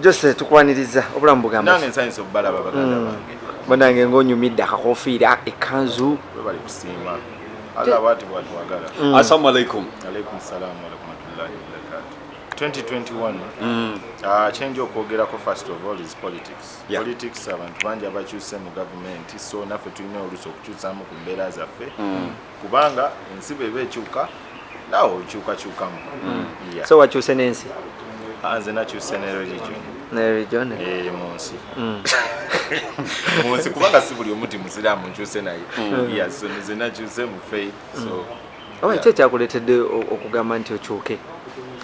Jose tukwaniriza obulamu bugamba. Nange nsanyuse obubalaba baganda mm. bange. Banange ng'onyumidde akakofiira ekkanzu. Webale kusiima. Allah bwati bwatwagala. Mm. Assalamu alaikum. Alaikum salaam wa rahmatullahi wa barakatuh. 2021 mm. uh, change okwogerako first of all is politics yeah. politics abantu bangi abakyuse mu gavumenti so naffe tulina oluusi okukyusamu ku mbeera zaffe mm. kubanga ensi bweba ekyuka nawe okyukakyukamu mm. so wakyuse nensi ah, nze nakyuse ne religion religion eh, munsi mm. munsi kubanga si buli omuti musiramu nkyuse naye mm. yes nze nakyuse mu faith so oba kyo kyakuletedde okugamba nti okyuke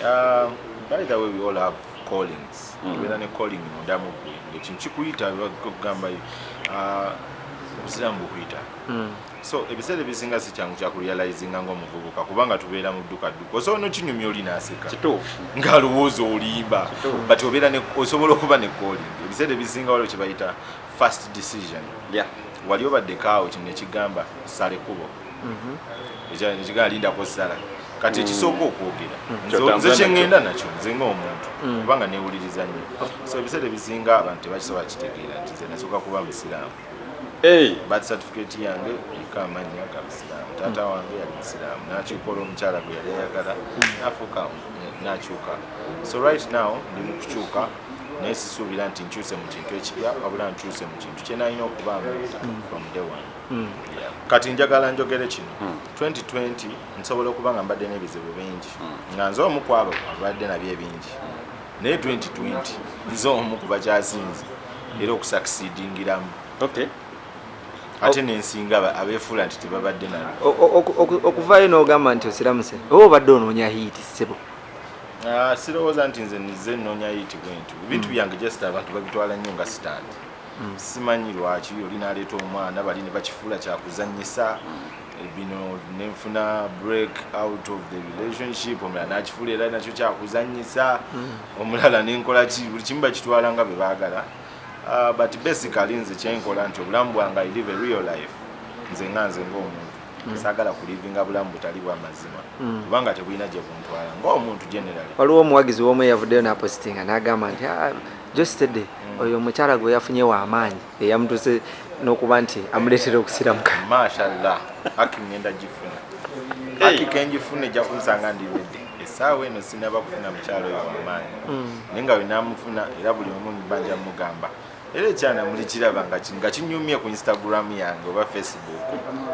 ah, by the way we all have callings obeera ne calling mudamu gwe ekintu kikuyita kugamba ah, obusiraamu bukuyita so ebiseera ebisinga si kyangu kya kurealizinga ngaomuvubuka kubanga tubeera mu dduka dduka osobola nokinyumya oli naseka ngaalowooza olimba but obeera osobola okuba nekoolin ebiseera ebisinga waliwo kyebayita first decision wali obaddekaawo kino nekigamba sala ekkubo mhm. ekigamba lindako sala kati ekisooka mm. okwogera mm. nze kyeŋŋenda nakyo nze ngaomuntu mm. kubanga newuliriza nnyo so ebiseera ebisinga abantu tebakisobola kitegeera nti nze nasooka kuba musiraamu Hey, birth certificate yange eriko amannya ga busiraamu taata hmm. wange yali musiraamu nakyuka olwo omukyala gwe yali ayagala hmm. nafuuka eh, nakyuka so right now ndi mu kukyuka naye sisuubira nti nkyuse mu kintu ekipya wabula nkyuse mu kintu kyenalina okubaamu hmm. from day one kati njagala njogere kino 2020 nsobola okuba nga mbadde n'ebizibu bingi nga nze omu kwabo abadde nabyo ebingi naye 2020 nze omu ku bakyasinze era okusakisidingiramu okay. ate nensinga abefuula nti tebabadde nalo okuvaayo nogamba nti osiramuse oba obadde onoonya hiiti sebo ah, sirowooza nti nze nize nnoonya hiiti bwentu ebintu mm. byange just abantu babitwala nnyo nga sitandi mm. simanyi lwaki oli naleeta omwana bali ne bakifuula kyakuzanyisa bino nenfuna break out of the relationship omulala nakifuula era nakyo kyakuzanyisa hmm. omulala nenkola ki buli kimu bakitwala nga bwe baagala ah, but basically nze kyenkola nti obulamu bwange i live a real life nze nga nze ngaomuntu Mm. sagala kulivinga bulamu butali bwamazima mm. kubanga tebulina gye buntwala ngaomuntu general waliwo omuwagizi womu eyavuddeyo napositinga nagamba nti ah, jostede mm. oyo omukyala gwe yafunye wamaanyi eyamutuse nokuba nti amuletera okusiramuka mashallah aki ngenda gifuna aki kenjifuna ejja kunsanga ndi wedde esaawa eno sinaba kufuna mukyalo oyo wamaanyi mm. naye nga wenamufuna era buli omu nibanja mugamba era ekyana muli kiraba nga kinyumye ku instagram yange oba facebook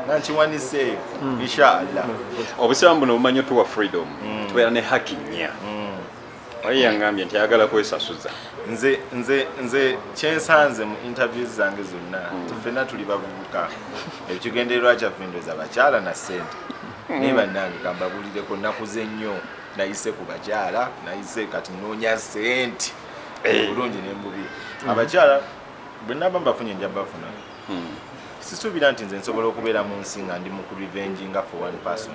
nankiwanise eyo mm. inshallah obusiramu buno bumanyi otuwa freedom mm. tubeera ne haki nnya Oyo yangambye nti ayagala kwesasuza. Nze nze nze kyensanze mu interviews zange zonna hmm. nti ffenna tuli bavubuka ekigendererwa kyaffe ndoza bakyala na ssente hmm. naye bannange kambabulireko nakuze nnyo nayise ku bakyala nayise kati noonya ssente eh. obulungi ne mububi hmm. abakyala bwe naba mbafunye nja bafuna hmm. sisuubira nti nze nsobola okubeera mu nsi nga ndi mu ku revenge nga for one person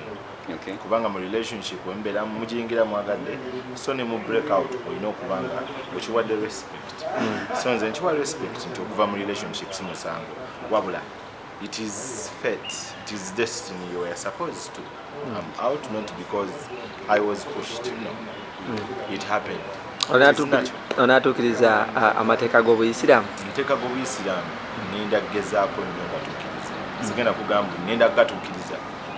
okay. kubanga mu relationship wembeera mujingira mwagadde so ne mu break out olina okuba nga okiwadde respect mm. so nze nkiwa respect nti okuva mu relationship si musango wabula it is fate it is destiny you are supposed to I'm out not because I was pushed. No. Mm. It happened. onatuukiriza amateeka g'obuyisiraamu amateeka g'obuyisiraamu nenda kugezaako nyo ngatuukiriza sigenda kugamba nenda kugatuukiriza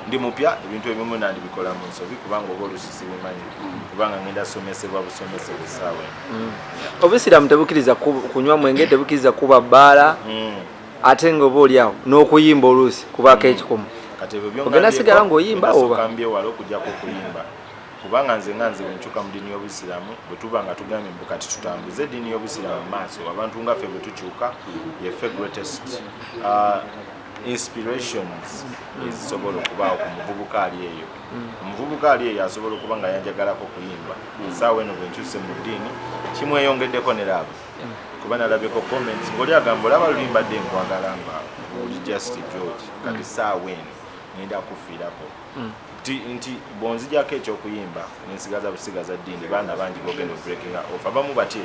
ndi mupya ebintu ebimu nandibikola mu nsobi kubanga oba olusi sibumanyi kubanga ngenda somesebwa busomese busaawa mm. obusiraamu tebukiriza kunywa mwenge tebukiriza kuba bbaala mm. ate nga oba oli awo n'okuyimba oluusi kubaako mm. ekikomo ogenda sigala ng'oyimba obakambyewala okujjako okuyimba kubanga nze nga nze wenkyuka mu ddiini y'obusiraamu bwe tuba nga tugambye mbu kati tutambuze eddiini y'obusiraamu mu maaso abantu nga ffe bwe tukyuka yeffe greatest uh, inspirations ezisobola okubaawo ku muvubuka ali eyo mm. omuvubuka ali eyo asobola okuba nga yanjagalako okuyimba esaawa eno bwenkyuse mu ddiini kimweyongeddeko ne laavu kuba nalabye ko comments ngoli agamba olaba lulimba dde nkwagala nga oli just george kati mm. saawa eno ngenda kufiirako mm. nti bwonzijako ekyokuyimba nensigaza busigaza ddiini baana bangi bogenda obreakinga off abamu batye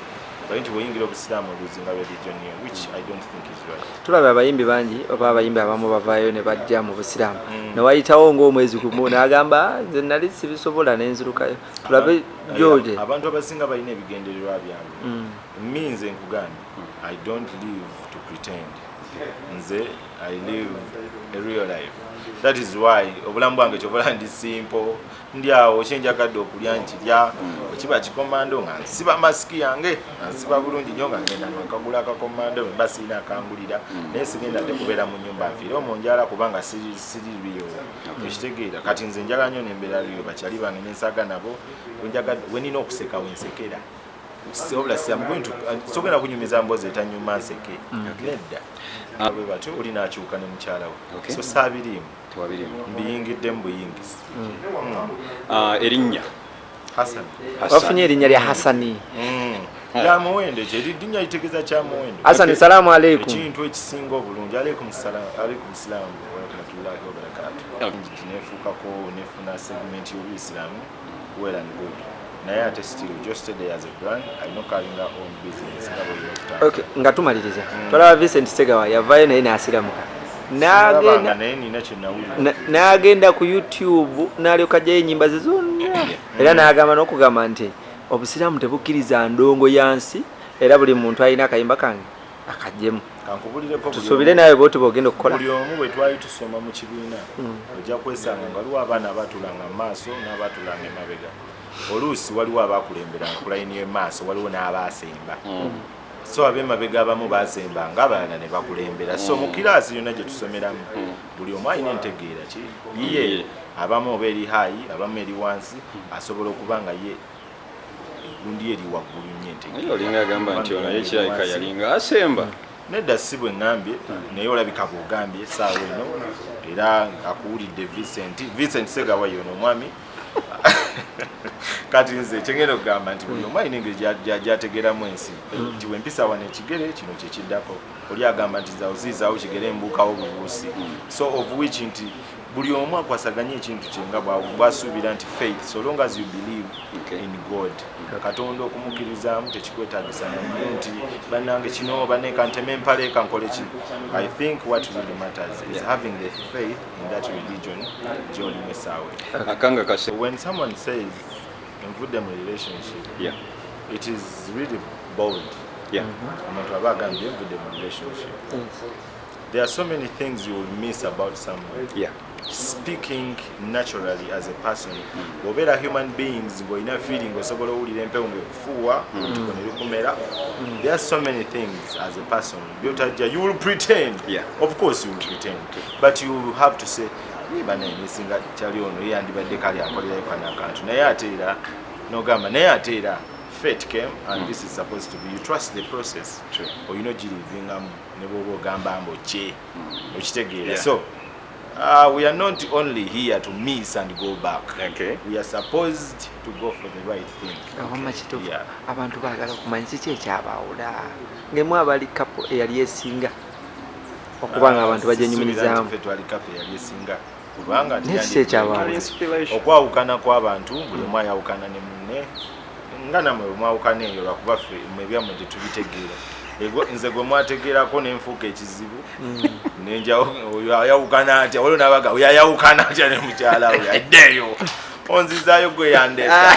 bali nti bweyingira obusiraamu oluzinga lwedijonio which i don't think is right tulaba abayimbi bangi oba abayimbi abamu bavaayo ne bajja mu busiraamu mm. newayitawo ngaomwezi gumu nagamba nze nali sibisobola nenzirukayo tulabe George. abantu abasinga balina ebigendererwa byabwe mm. mi nze nkugambye i don't live to pretend nze i live a real life that is why obulamu bwange kyobola ndi simple ndi awo kyenjagadde okulya nkirya mm. ekiba kikomando nga nsiba masiki yange nga nsiba bulungi nyo nga ngenda nkagula akakomando mba sirina akangulira mm. naye sigenda tekubeera mu nyumba nfiire omunjala kubanga siri biyo okitegeera kati nze njagala nyo nembeera liyo bakyali bange nensaga nabo wenina okuseka wensekera wabula sogenda kunyumiza mbozi etanyuma nseke mm. nedda ah. bwe batyo oli nakyuka ne mukyala we so saabiriimu mbiyingiddemu buyingizi mm. mm. ah, erinnya wafunye erinnya lya hasani kyamuwendo ekyo eridinya litegeeza kyamuwendo asani salaamu aleikum ekintu ekisinga obulungi aleikum salaamu aleikum salaamu warahmatullahi wabarakatu nefuukako nefuna segment y'obuyisiraamu well and good naye ate still just stay there as a brand alina okalinga own business nga bweyina okutandika okay nga tumaliriza mm. twalaba vincent segawa yavayo naye nasiramuka n'agenda ku youtube n'alyoka ajjayo enyimba ze zonna era n'agamba n'okugamba nti obusiraamu tebukkiriza ndongo ya nsi era buli muntu alina akayimba kange akajjemu tusuubire naawe bwoti bwogenda okukola buli omu bwe twali tusoma mu kibiina mm. ojja kwesanga nga waliwo abaana abaatulanga mu maaso n'abaatulanga emabega oluusi waliwo abaakulembera nkulayini y'emaaso waliwo n'abaasemba mm. so abemabega abamu bazemba nga abalala ne bakulembera so mu mm. kiraasi yonna gye tusomeramu mm. buli omu alina entegeera ki yiye abamu oba eri haayi abamu eri wansi mm. asobola okuba nga ye egundi eri waggulu nyo entegeeraolinga agamba nti ono yekirabika yalinga asemba nedda si bwe ŋambye naye olabika bwogambye esaawa eno era akuwulidde vincent vincent segawa yono omwami kati nze kyengenda okugamba nti buli omu alina engeri gyategeeramu ensi mm. nti wempisa wano ekigere kino kyekiddako oli agamba nti zaoziizawo kigere mbuukawo bubuusi mm. so of which nti buli omu akwasaganye ekintu kyenga bwasuubira nti faith so long as you believe in god katonda okumukkirizamu tekikwetagisa naye nti banange kino baneka nteme empaleeka nkoleki i think what really matters is having the faith in that religion gyolimu essaawa akanga kase when someone says envudde mu relationship yeah. it is really bold yeah. mm -hmm. omuntu aba agambye envudde mu relationship yes. there are so many things you will miss about someone yeah. speaking naturally as a person bwobeera human beings ng'olina feeling osobola owulira empewo ngaekufuuwa mm. ntuko nerukumera mm. there are so many things as a person byotajja you will pretend yeah. of course you will pretend but you will have to say banaye nesinga kyali ono yeyandibadde kali akolerayo kana akantu naye ate era nogamba naye ate era fate came and mm. this is supposed to be you trust the process olina ogirivingamu ne bwoba ogamba mbu kye mm. okitegeera yeah. so Uh, we are not only here to miss and go back. Okay. We are supposed to go for the right thing. Okay. Yeah. ngemu abali kapo eyali esinga okuba nga abantu bagyenyumirizaamu kubanga nekiki ekyabaali okwawukana kw'abantu buli omu ayawukana ne munne nga namwe bwemwawukana eyo lwakuba ffe mwebyammwe tetubitegeera nze gwe mwategeerako nenfuuka ekizibu mm. nenjayawukana atya waliwo nabaga oyayawukana atya ne mukyala we addeeyo onzizaayo gwe yandeeta ah.